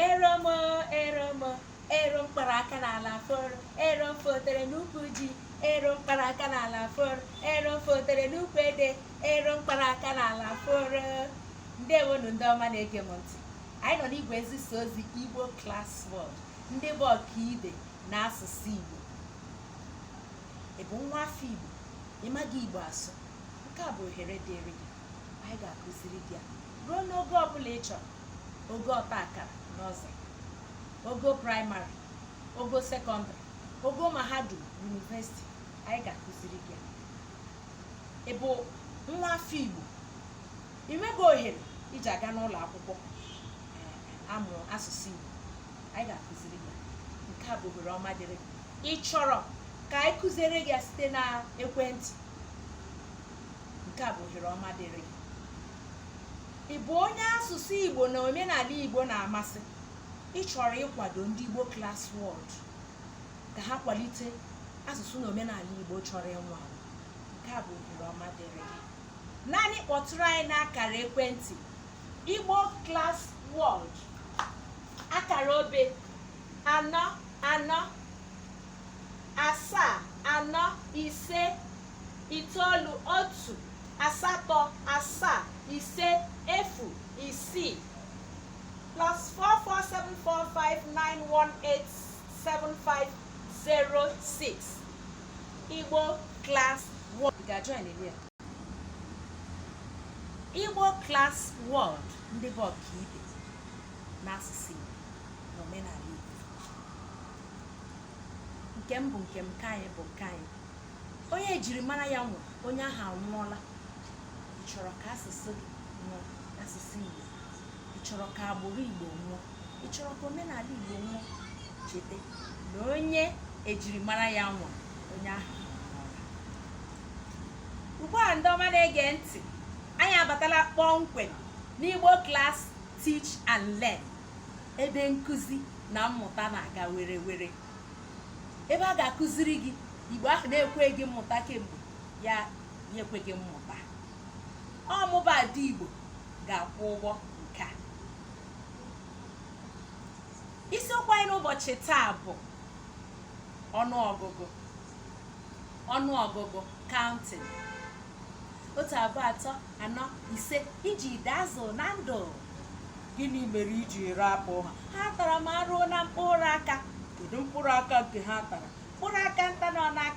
eromo eromo ero mkpara aka n'ala foro ero fotere n'ukwu ji ero mkpara aka n'ala foro ero fotere n'ukwu ede ero mkpara aka n'ala foro ndewonu ndị ọma na-ege m ntị anyị nọ n'igwe nzisa ozi igbo class world ndị bụ ọkaibe n'asụsụ igbo ị bụ nwa afọ igbo ị maghị igbo asụ nke a bụ ohere dịrị gị anyị ga-akụziri gị ya ruo n'ogo ọbụla ị chọrọ ogo ọta akara nursery ogo praịmarị ogo sekọndịrị ogo mahadum university anyị ga-akụziri gị ya ị bụ nwa afọ igbo ị nweghị ohere iji aga n'ụlọ akwụkwọ eh, amụ asụsụ igbo anyị ga-akụziri gị ya nke a bụ ohere ọma dịrị gị. ị chọrọ ka anyị kụziere gị ya site na ekwentị nke a bụ ohere ọma dịrị gị ị bụ onye asụsụ igbo na omenala igbo na-amasị ị chọrọ ịkwado ndị igbo class world ka ha kwalite asụsụ na omenala igbo chọrọ ịnwụ anwụ nke a bụ ohere ọma dịrị gị naanị kpọtụrụ anyị n'akara ekwentị igbo class world akara obe anọ anọ asaa anọ ise itoolu otu asatọ asaa ise efu isii plus 447459187506 Igbo class world ga-join ebe a. Igbo class world ndị bụ ọkaibe n'asụsụ Igbo na omenala Igbo nke m bụ nke m nke anyị bụ nke anyị onye ejirimara ya nwụ onye ahụ anwụọla ị chọrọ ka asụsụ gị nwụọ asụsụ igbo ị chọrọ ka agbụrụ igbo nwụọ ị chọrọ ka omenala igbo nwụọ cheta na onye ejirimara ya nwụ onye ahụ anwụọla ugbu a ndị ọma na-ege ntị anyị abatala kpọmkwem n'igbo class teach and learn ebe nkụzi na mmụta na-aga were were ebe a ga-akụziri gị igbo ahụ na-ekweghị mmụta kemgbe ya ekweghị mmụta ọmụba dị igbo ga-akwụ ụgwọ nke a isiokwu anyị n'ụbọchị taa bụ ọnụọgụgụ ọnụọgụgụ counting otu abụọ atọ anọ ise ijide azụ na ndụ gịnị mere i ji rapụ ha ha tara m arụ na mkpụrụ aka kedu mkpụrụ aka nke ha tara mkpụrụ aka nta nọ n'aka